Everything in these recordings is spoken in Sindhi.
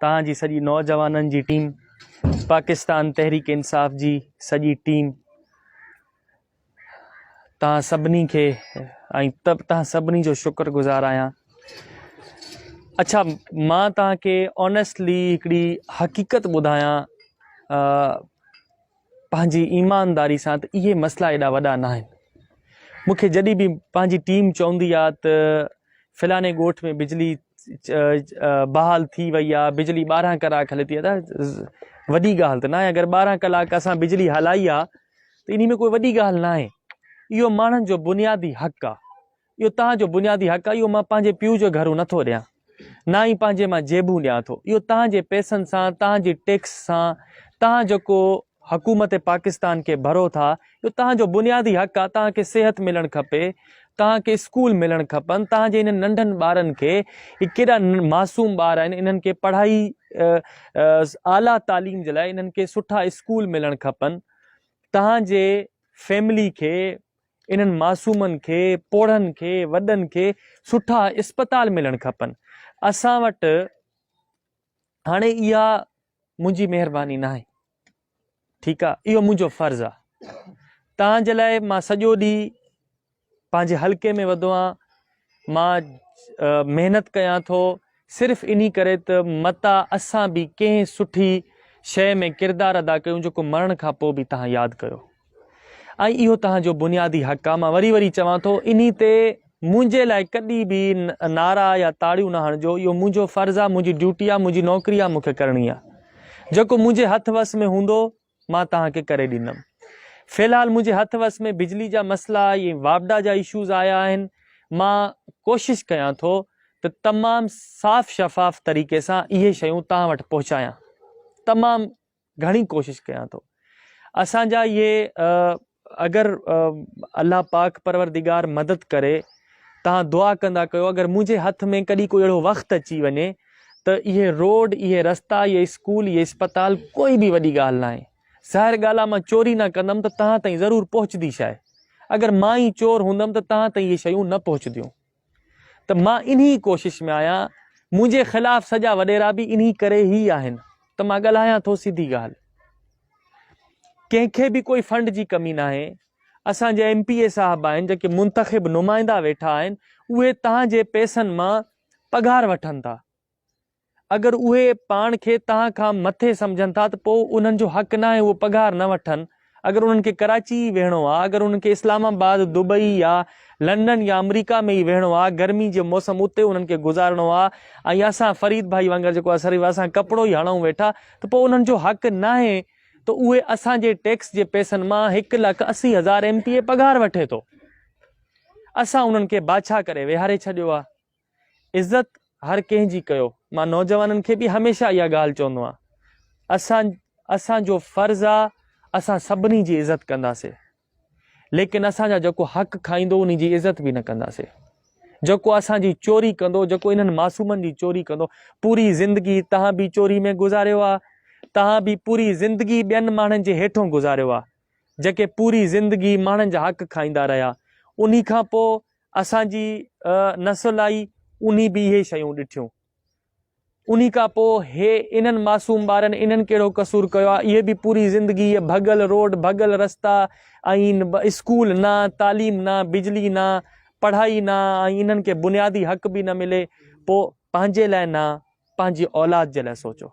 توهان جي سڄي نوجوانن جي ٽيم پاڪستان تحريڪ انصاف جي سڄي ٽيم توهان سڀني کي ۽ توهان سڀني جو شڪر گذار آهيان اچھا مان توهان کي آنيسٽلي هڪڙي حقيقت ٻڌايان پنهنجي ايمانداري سان ته اهي مسئلا ايڏا وڏا نه آهن مون کي جڏهن به پنهنجي ٽيم چوندي آ ته فلاڻي ڳوٺ ۾ بجلي بحال ٿي وئي آ بجلي ٻارهن ڪلاڪ هلي ٿي ادا وڏي ڳالهه ته نه آهي اگر ٻارهن ڪلاڪ اسان بجلي هلائي آ ته انهي ۾ ڪوئي وڏي ڳالهه نه آهي اهو ماڻهن جو بنيادي حق آ اهو توهان جو بنيادي حق آهي، اهو مان پنهنجي پيء جو گهرو نٿو ڏيان، نه ئي پنهنجي مان جيبون ڏيان ٿو، اهو توهان جي پئسن سان، توهان جي ٽيڪس سان، توهان جيڪو حڪومت پاڪستان کي ڀرو ٿا، اهو توهان جو بنيادي حق آهي، توهان کي صحت ملڻ کپي، توهان کي اسڪول ملڻ کپن، توهان جي انهن ننڍن ٻارن کي، هي ڪيڏا معصوم ٻار آهن، انهن کي پڙهائي اعليٰ تعليم جي لاء انهن کي سٺا اسڪول ملڻ کپن، توهان جي فيملي کي انهن معصومن کي، پوڙهن کي، وڏن کي سٺا اسپتال ملڻ کپن. اسان وٽ هاڻي اها منهنجي مهرباني ناهي. ٺيڪ آ اهو منهنجو فرض آ تان جي لاء مان سڄو ڏينهن پنهنجي حلقي ۾ وڌو آ مان محنت ڪيان ٿو صرف انهي ڪري ته متان اسان به ڪنهن سٺي شيء ۾ ڪردار ادا ڪيون جيڪو مرڻ کان پوء به توهان ياد ڪيو ۽ اهو توهان جو بنيادي حق آهي مان وري وري چوان ٿو انهي تي منهنجي لاء ڪڏهن به نعرا يا تاڙيون نه هڻجو اهو منهنجو فرض آهي منهنجي ڊيوٽي آهي منهنجي نوڪري آهي مون کي ڪرڻي آهي جيڪو منهنجي هٿ وس ۾ هوندو مان توهان کي ڪري ڏيندم. في الحال منهنجي هٿ وس ۾ بجلي جا مسئلا ۽ واپڊا جا اشوز آيا آهن. مان ڪوشش ڪيان ٿو ته تمام صاف شفاف طريقي سان اهي شيون توهان وٽ پهچايان. تمام گهڻي ڪوشش ڪيان ٿو. اسان جا اهي اگر الله پاڪ پروردگار مدد ڪري توهان دعا ڪندا ڪيو اگر منهنجي هٿ ۾ ڪڏهن ڪو اهڙو وقت اچي وڃي ته اهي روڊ اهي رستا اهي اسڪول اهي اسپتال ڪوئي به وڏي ڳالهه نه آهي ظاهر ڳالهه آهي مان چوري نه ڪندم ته توهان تائين ضرور پهچدي شاهي اگر مان ئي چور هوندم ته توهان تائين اهي شيون نه پهچديون. ته مان انهي ڪوشش ۾ آهيان، منهنجي خلاف سڄا وڏيرا به انهي ڪري هي آهن ته مان ڳالهايان ٿو سڌي ڳالهه. ڪنهن کي به ڪوئي فنڊ جي ڪمي ناهي، اسان جا ايم پي اي صاحب آهن جيڪي منتخب نمائندا ويٺا آهن اهي تهان جي پئسن مان پگهار وٺن ٿا، اگر اهي پاڻ کي توهان کان مٿي سمجهن ٿا ته پوء انهن جو حق ناهي اهو پگهار نه وٺن اگر انهن کي ڪراچي ئي ويهڻو آ اگر انهن کي اسلام آباد دبئي يا لنڊن يا آمريڪا ۾ ئي ويهڻو آ گرمي جي موسم اتي انهن کي گذارڻو آ ۽ اسان فريد ڀائي وانگر جيڪو اسريف اسان ڪپڙو ئي هڻئون ويٺا ته پوء انهن جو حق ناهي ته اهي اسان جي ٽيڪس جي پئسن مان هڪ لک اسي هزار ايم پي اي پگهار وٺي ٿو اسان انهن کي بادشاهه ڪري ويهاري ڇڏيو آ عزت هر ڪنهن جي ڪيو. مان نوجوانن کي به هميشه اها ڳالهه چوندو آهيان اسان اسان جو فرض آ اسان سڀني جي عزت ڪنداسي ليڪن اسان جا جيڪو حق کائيندو انهي جي عزت به نه ڪنداسي جيڪو اسان جي چوري ڪندو جيڪو انهن معصومن جي چوري ڪندو پوري زندگي تهان به چوري ۾ گذاريو آ تهان به پوري زندگي ٻين ماڻهن جي هيٺون گذاريو آ جيڪي پوري زندگي ماڻهن جا حق کائيندا رهيا انهي کان پوء اسان جي نسل آئي انهي به اهي شيون ڏٺيون. انهي کان پوء هي انهن معصوم ٻارن انهن ڪهڙو قصور ڪيو آ اهي به پوري زندگي اهي ڀڳل روڊ ڀڳل رستا ۽ اسڪول نه تعليم نه بجلي نه پڙهائي نه ۽ انهن کي بنيادي حق به نه ملي پوء پنهنجي لاء نه پنهنجي اولاد جي لاء سوچو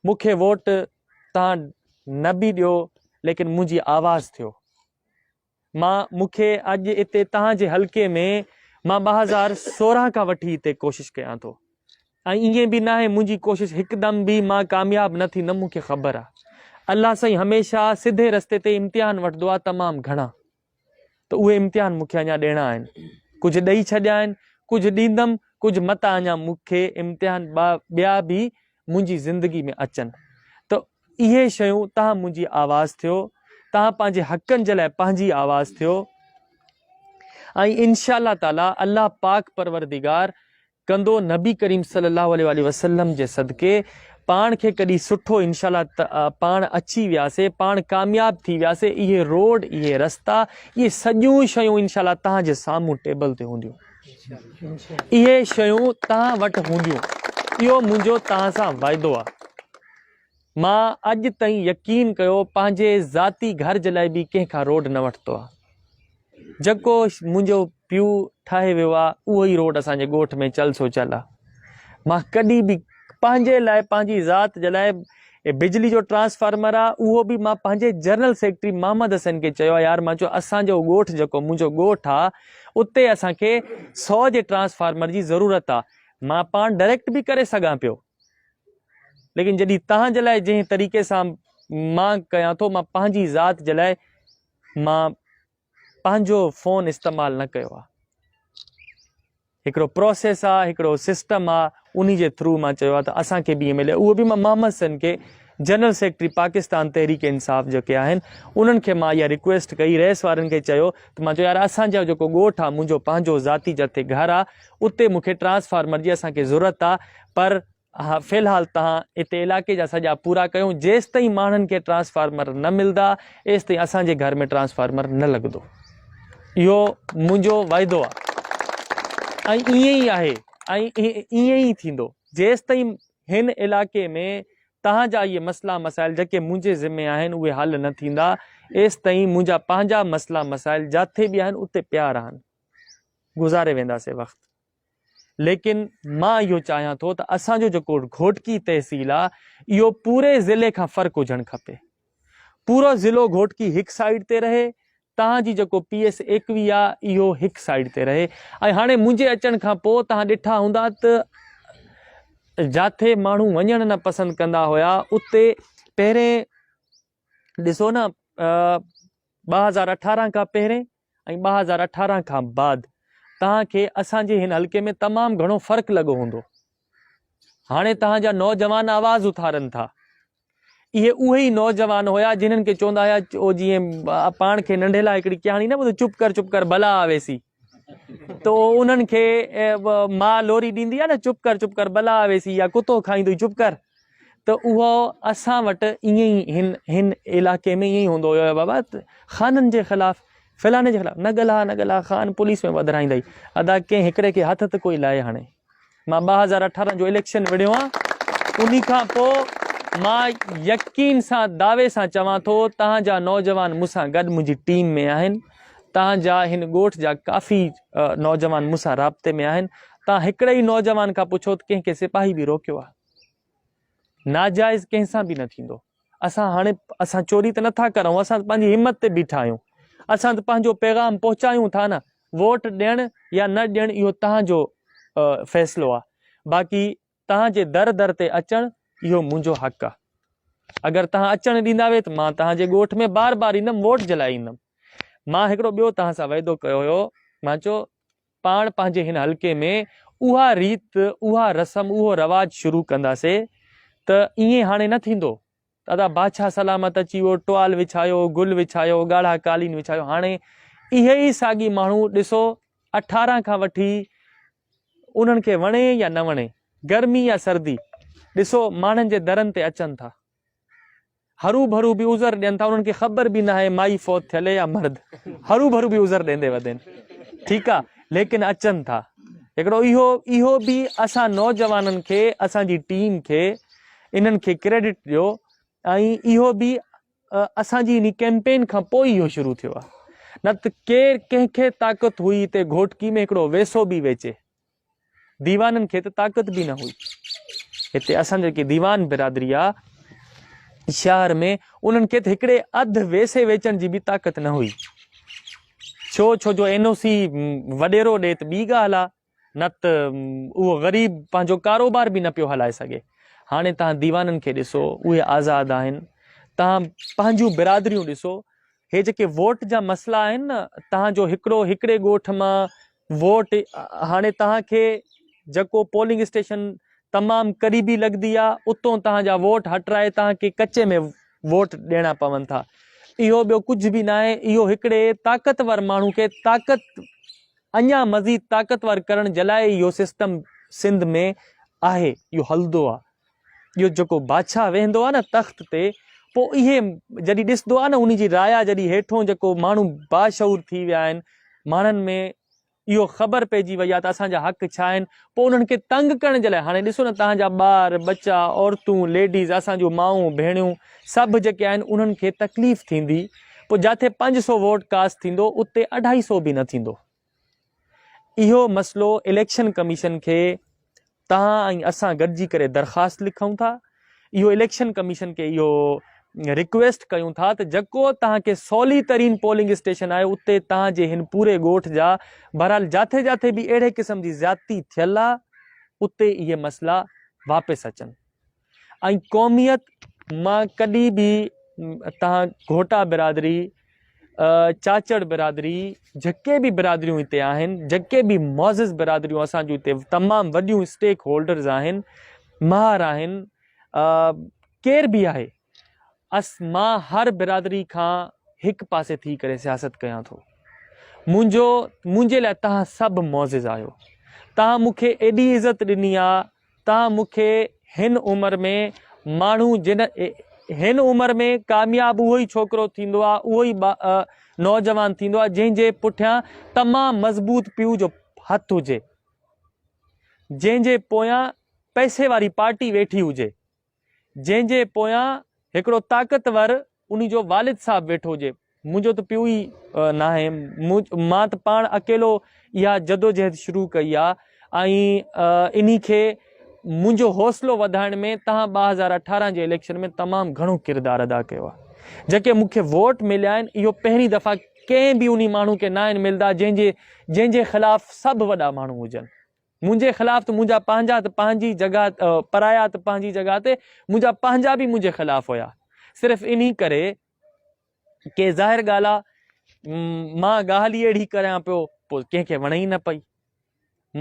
مون کي ووٽ تان نه به ڏيو ليڪن منهنجي آواز ٿيو مان مون کي اڄ اتي توهان جي حلقي ۾ مان ٻه هزار سورهن کان وٺي اتي ڪوشش ڪيان ٿو ۽ ائين به ناهي منهنجي ڪوشش هڪدم به مان ڪامياب نه ٿيندم مون کي خبر آ الله سائين هميشه سڌي رستي تي امتحان وٺدو آ تمام گهڻا ته اهي امتحان مون کي اڃا ڏيڻا آهن ڪجهه ڏئي ڇڏيا آهن ڪجهه ڏيندم ڪجهه متا اڃا مون کي امتحان ٻيا به منهنجي زندگي ۾ اچن ته اهي شيون تهان منهنجي آواز ٿيو تهان پنهنجي حقن جي لاء پنهنجي آواز ٿيو ۽ انشاء الله تعالي الله پاڪ پروردگار ڪندو نبي ڪريم صلي الله عليه وآله وسلم جي صدقي پاڻ کي ڪڏي سٺو انشاء الله پاڻ اچي وياسي پاڻ ڪامياب ٿي وياسي اهي روڊ اهي رستا اهي سڄيون شيون انشاء الله تهان جي سامهون ٽيبل تي هونديون اهي شيون توهان وٽ هونديون، اهو منهنجو توهان سان وعدو آهي. مان اڄ تائين يقين ڪيو پنهنجي ذاتي گهر جي لاء به ڪنهن کان روڊ نه وٺتو آهي. جيڪو منهنجو پيو ٺاهي ويو آهي، اهو ئي روڊ اسان جي ڳوٺ ۾ چل سو چل آهي. مان ڪڏهن به پنهنجي لاء، پنهنجي ذات جي لاء هي بجلي جو ٽرانسفارمر آ اهو به مان پنهنجي جنرل سيڪريٽري محمد حسين کي چيو آ يار مان چيو اسان جو ڳوٺ جيڪو منهنجو ڳوٺ آ اتي اسان کي سو جي ٽرانسفارمر جي ضرورت آ مان پاڻ ڊريڪٽ به ڪري سگهان پيو ليڪن جڏي تهان جي لاء جنهن طريقي سان مان ڪيان ٿو مان پنهنجي ذات جي لاء مان پنهنجو فون استعمال نه ڪيو آ هڪڙو پروسيس آ هڪڙو سسٽم آ انهي جي ٿرو مان چيو آ ته اسان کي به ائين ملي اهو به مان محمد سن کي جنرل سيڪريٽري پاڪستان تحريڪ انصاف جيڪي آهن انهن کي مان اها ريڪويسٽ ڪئي ريس وارن کي چيو ته مان چيو يار اسان جو جيڪو ڳوٺ آ منهنجو پنهنجو ذاتي جتي گهر آ اتي مونکي ٽرانسفارمر جي اسان کي ضرورت آ پر اها في الحال تهان اتي علائقي جا سڄا پورا ڪيون جيستائين ماڻهن کي ٽرانسفارمر نه ملدا ايستائين اسان جي گهر ۾ ٽرانسفارمر نه لڳندو اهو منهنجو وعدو آ ۽ ائين ئي آهي ۽ ائين ئي ٿيندو جيستائين هن علائقي ۾ تهان جا اهي مسئلا مسائل جيڪي منهنجي ذمي آهن اهي حل نه ٿيندا ايستائين منهنجا پنهنجا مسئلا مسائل جاٿي به آهن اتي پيا رهن گذاري وينداسين وقت ليڪن مان اهو چاهيان ٿو ته اسان جو جيڪو گهوٽڪي تحصيل آ اهو پوري ضلعي کان فرق هجڻ کپي پورو ضلعو گهوٽڪي هڪ سائيڊ تي رهي تهان جي جيڪو پي ايس ايڪوي آ اهو هڪ سائيڊ تي رهي ۽ هاڻي منهنجي اچڻ کان پو تهان ڏٺا هوندا ته جاٿي ماڻهو وڃڻ نه پسند ڪندا هيا اتي پهرين ڏسو نه ٻه هزار اٺارهن کان پهرين ۽ ٻه هزار اٺارهن کان بعد تهان کي اسان جي هن حلقي ۾ تمام گهڻو فرق لڳو هوندو هاڻي تهان جا نوجوان آواز اٿارن ٿا اهي اهي ئي نوجوان هيا جنهن کي چوندا هيا جي پاڻ کي ننڍي لاء هڪڙي ڪهاڻي نه ٻڌو چپ ڪر چپ ڪر بلا آويسي تو انهن کي ماء لوري ڏيندي آهي نه چپ ڪر چپ ڪر بلا ويسي يا ڪتو کائيندو چپ ڪر ته اهو اسان وٽ ائين ئي هن هن علاقي ۾ ائين هوندو هيو بابا خانن جي خلاف فلاڻي جي خلاف نه ڳالها نه ڳالها خان پوليس ۾ وڌرائيندئي ادا ڪنهن هڪڙي کي هٿ ته ڪوئي لائي هاڻي مان ٻه هزار اٺارهن جو اليڪشن وڙهيو آهيان انهي کان پوء مان يقين سان دعوي سان چوان ٿو تهان جا نوجوان مون سان گڏ منهنجي ٽيم ۾ آهن تهان جا هن ڳوٺ جا ڪافي نوجوان مون سان رابطي ۾ آهن تهان هڪڙي ئي نوجوان کان پڇو ته ڪنهن کي سپاهي به روڪيو آهي ناجائز ڪنهن سان به نه ٿيندو اسان هاڻي اسان چوري ته نٿا ڪرون اسان پنهنجي همت تي بيٺا آهيون اسان ته پنهنجو پيغام پهچايون ٿا نه ووٽ ڏيڻ يا نه ڏيڻ اهو تنهنجو فيصلو آهي باقي تنهنجي در در تي اچڻ اهو منهنجو حق آهي اگر تنهن اچڻ ڏيندا وي ته مان تنهنجي ڳوٺ ۾ بار بار ايندم ووٽ جلائي ايندم مان هڪڙو ٻيو تنهن سان وعدو ڪيو هيو مان چو پاڻ پنهنجي هن حلقي ۾ اها ريت، اها رسم، اهو رواج شروع ڪنداسي ته ائين هاڻي نه ٿيندو ته ادا باچهه سلامت اچي ويو، ٽوال وڇايو، گل وڇايو، ڳاڙها قالين وڇايو، هاڻي اهي ئي ساڳي ماڻهو ڏسو اٺارهن کان وٺي انهن کي وڻي يا نه وڻي، گرمي يا سردي، ڏسو ماڻهن جي درن تي اچن ٿا. هروڀرو به عذر ڏين ٿا انهن کي خبر به ناهي مائي فوت ٿيل يا مرد هروڀرو به عذر ڏيندي وڌين ٺيڪ آ ليڪن اچن ٿا هڪڙو اهو اهو به اسان نوجوانن کي اسان جي ٽيم کي انهن کي ڪريڊٽ ڏيو ۽ اهو به اسان جي ان ڪيمپين کان پوء اهو شروع ٿيو آ نه ته ڪير ڪنهن کي طاقت هئي ته گهوٽڪي ۾ هڪڙو ويسو به ويچي ديوانن کي ته طاقت به نه هئي. هتي اسان جيڪي ديوان برادري آ شهر ۾ انهن کي ته هڪڙي اڌ ويسي ويچڻ جي به طاقت نه هئي. ڇو ڇو جو اين او سي وڏيرو ڏي ته ٻي ڳالهه آ نت اهو غريب پنهنجو ڪاروبار به نه پيو هلائي سگهي. هاڻي تهان ديوانن کي ڏسو اهي آزاد آهن تهان پنهنجون برادريون ڏسو هي جيڪي ووٽ جا مسئلا آهن نه تهان جو هڪڙو هڪڙي ڳوٺ مان ووٽ هاڻي توهان کي جڪو پولنگ اسٽيشن تمام قريبي لڳدي آ اتون توهان جا ووٽ هٽرائي توهان کي ڪچي ۾ ووٽ ڏيڻا پون ٿا اهو ٻيو ڪجهه به ناهي اهو هڪڙي طاقتور ماڻهو کي طاقت اڃا مزيد طاقتور ڪرڻ جلاء اهو سسٽم سنڌ ۾ آهي اهو هلدو آ ٻيو جيڪو بادشاهه ويهندو آهي نه تخت تي پوء اهي جڏهن ڏسندو آهي نه ان جي رايا جڏهن هيٺون جيڪو ماڻهو باشعور ٿي ويا آهن ماڻهن ۾ اهو خبر پئجي وئي آهي ته اسان جا حق ڇا آهن پوء انهن کي تنگ ڪرڻ جي لاء هاڻي ڏسو نه تهان جا ٻار ٻچا عورتون ليڊيز اسان جون مائون ڀيڻيون سڀ جيڪي آهن انهن کي تڪليف ٿيندي پوء جاٿي پنج سو ووٽ ڪاسٽ ٿيندو اتي اڍائي سو به نه ٿيندو اهو مسئلو اليڪشن ڪميشن کي توهان ۽ اسان گڏجي ڪري درخواست لکون ٿا اهو اليڪشن ڪميشن کي اهو رڪويسٽ ڪيون ٿا ته جيڪو توهان کي سولي ترين پولنگ اسٽيشن آهي اتي توهان جي هن پوري ڳوٺ جا بهرحال جاٿي جاٿي به اهڙي قسم جي زيادتي ٿيل آهي اتي اهي مسئلا واپس اچن ۽ قوميت مان ڪڏهن به تهان گهوٽا برادري چاچڙ برادري جيڪي به برادريون هتي آهن جيڪي به معزز برادريون اسان جون هتي تمام وڏيون اسٽيڪ هولڊرز آهن مهار آهن ڪير به آهي اس مان هر برادري کان هڪ پاسي ٿي ڪري سياست ڪيان ٿو منهنجو منهنجي لاء تهان سڀ معزز آهيو تهان مونکي ايڏي عزت ڏني آ تان مون کي هن عمر ۾ ماڻهو جن هن عمر ۾ ڪامياب اهو ئي ڇوڪرو ٿيندو آ اهو ئي نوجوان ٿيندو آ جنهن جي پٺيان تمام مضبوط پيء جو هٿ هجي جنهن جي پويان پئسي واري پارٽي ويٺي هجي. جنهن جي پويان هڪڙو طاقتور انهي جو والد صاحب ويٺو هجي. منهنجو ته پيو ئي ناهي. مان ته پاڻ اڪيلو اها جدوجهد شروع ڪئي آ ۽ انهي کي منهنجو حوصلو وڌائڻ ۾ تهان ٻه هزار اٺارهن جي اليڪشن ۾ تمام گهڻو ڪردار ادا ڪيو آ. جيڪي مون کي ووٽ مليا آهن اهو پهرين دفعا ڪنهن به انهي ماڻهو کي ناهن ملدا جنهن جي جنهن جي خلاف سڀ وڏا ماڻهو هجن. منهنجي خلاف ته منهنجا پنهنجا ته پنهنجي جڳهه پرايا ته پنهنجي جڳهه تي منهنجا پنهنجا به منهنجي خلاف هيا صرف انهي ڪري ڪي ظاهر ڳالهه آ مان ڳالهه ئي اهڙي ڪريان پيو پوء ڪنهن کي وڻي ئي نه پئي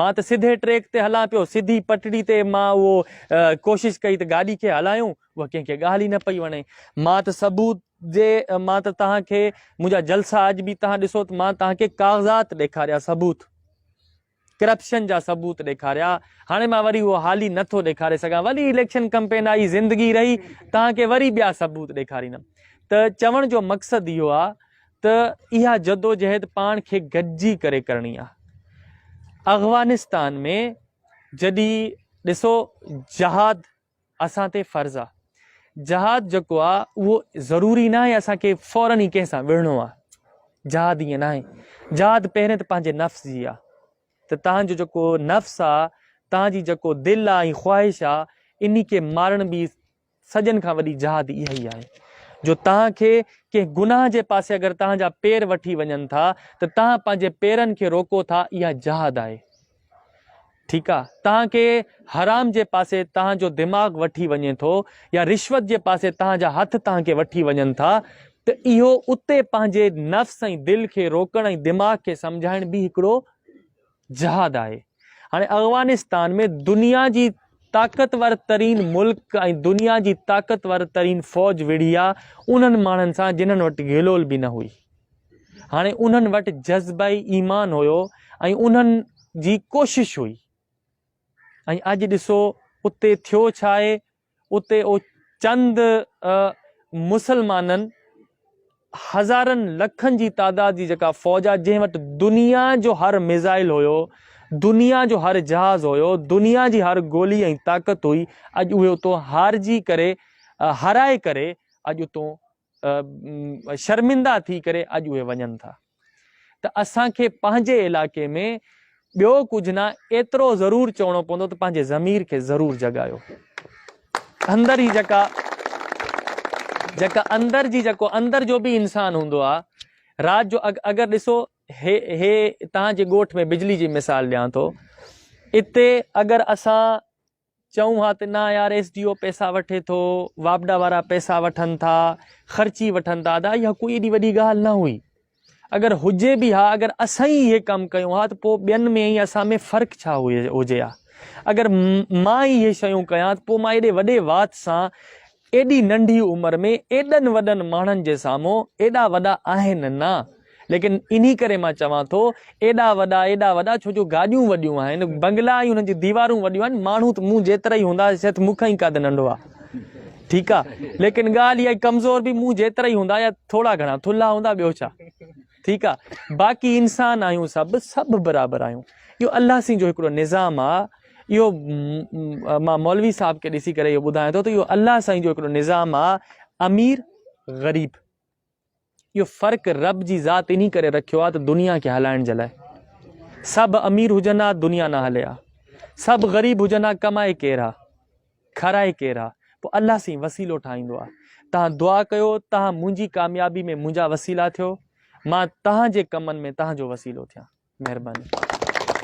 مان ته سڌي ٽريڪ تي هلان پيو سڌي پٽڙي تي مان اهو ڪوشش ڪئي ته گاڏي کي هلايون اها ڪنهن کي ڳالهه ئي نه پئي وڻي مان ته ثبوت جي مان ته توهان کي منهنجا جلسا اڄ به توهان ڏسو ته مان توهان کي ڪاغذات ڏيکاريا ثبوت ڪرپشن جا ثبوت ڏيکاريا هاڻي مان وري اهو حالي نه ٿو ڏيکاري سگهان وري اليڪشن ڪمپين آئي زندگي رهي تان کي وري ٻيا ثبوت ڏيکاريندم ته چوڻ جو مقصد اهو آ ته اها جدوجهد پاڻ کي گڏجي ڪري ڪرڻي آ اغوانستان ۾ جڏي ڏسو جهاد اسان تي فرض آ جهاد جيڪو آ اهو ضروري ناهي اسان کي فورن ئي ڪنهن سان وڙهڻو آ جهاد ائين ناهي جهاد پهرين ته پنهنجي نفس جي آ ته تنهنجو جيڪو نفس آ تنهنجي جيڪو دل آ ۽ خواهش آ انهي کي مارڻ به سڄن کان وڏي جهاد اها ئي آهي جو تنهن کي ڪنهن گناهه جي پاسي اگر تنهنجا پير وٺي وڃن ٿا ته تنهن پنهنجي پيرن کي روڪو ٿا اها جهاد آهي ٺيڪ آ توهان کي حرام جي پاسي توهان جو دماغ وٺي وڃي ٿو يا رشوت جي پاسي توهان جا هٿ توهان کي وٺي وڃن ٿا ته اهو اتي پنهنجي نفس ۽ دل کي روڪڻ ۽ دماغ کي سمجهائڻ به هڪڙو جهاد آهي هاڻي افغانستان ۾ دنيا جي طاقتور ترين ملڪ ۽ دنيا جي طاقتور ترين فوج وڙهي آ انهن ماڻهن سان جنهن وٽ گهلول به نه هئي هاڻي انهن وٽ جذبه ايمان هيو ۽ انهن جي ڪوشش هئي ۽ اڄ ڏسو اتي ٿيو ڇا آهي اتي او چند مسلمانن هزارن لکن جي تعداد جي جيڪا فوج آ جنهن وٽ دنيا جو هر ميزائل هيو دنيا جو هر جهاز هيو دنيا جي هر گولي ۽ طاقت هئي اڄ اهي اتو هارجي ڪري هرائي ڪري اڄ اتو شرمندا ٿي ڪري اڄ اهي وڃن ٿا ته اسان کي پنهنجي علائقي ۾ ٻيو ڪجهه نه ايترو ضرور چوڻو پوندو ته پنهنجي ضمير کي ضرور جڳايو اندر هي جيڪا جيڪا اندر جي جيڪو اندر جو به انسان هوندو آ رات جو اگر ڏسو هي هي تهان جي ڳوٺ ۾ بجلي جي مثال ڏيان ٿو اتي اگر اسان چئون ها ته نه يار ايس ڊي او پئسا وٺي ٿو، واپڊا وارا پئسا وٺن ٿا، خرچي وٺن ٿا ادا اها ڪوئي ايڏي وڏي ڳالهه نه هئي. اگر هجي به ها اگر اسان ئي اهي ڪم ڪيون ها ته پوء ٻين ۾ ۽ اسان ۾ فرق ڇا هجي ها. اگر مان ئي اهي شيون ڪيان ته پوء مان ايڏي وڏي وات سان ايڏي ننڍي عمر ۾ ايڏن وڏن ماڻهن جي سامهون ايڏا وڏا آهن نه. ليڪن انهي ڪري مان چوان ٿو ايڏا وڏا ايڏا وڏا ڇو جو گاڏيون وڏيون آهن، بنگلا ۽ انهن جون ديوارون وڏيون آهن، ماڻهو ته مون جيترا ئي هوندا شيد مون کان ئي قد ننڍو آ. ٺيڪ آ. ليڪن ڳالهه اها آهي ڪمزور به مون جيترا ئي هوندا يا ٿورا گهڻا ٿلها هوندا ٻيو ڇا. ٺيڪ آ باقي انسان آهيون سڀ سڀ برابر آهيون اهو الله سين جو هڪڙو نظام آ اهو مان مولوي صاحب کي ڏسي ڪري اهو ٻڌايان ٿو ته اهو الله سائين جو هڪڙو نظام آ امير غريب اهو فرق رب جي ذات انهي ڪري رکيو آ ته دنيا کي هلائڻ جي لاء سڀ امير هجن ها دنيا نه هلي ها سڀ غريب هجن ها ڪمائي ڪير ها کارائي ڪير آ پوء الله سين وسيلو ٺاهيندو آ تهان دعا ڪيو تهان منهنجي ڪاميابي ۾ منهنجا وسيلا ٿيو مان تهان جي ڪمن ۾ تهان جو وسيلو ٿيان مهرباني.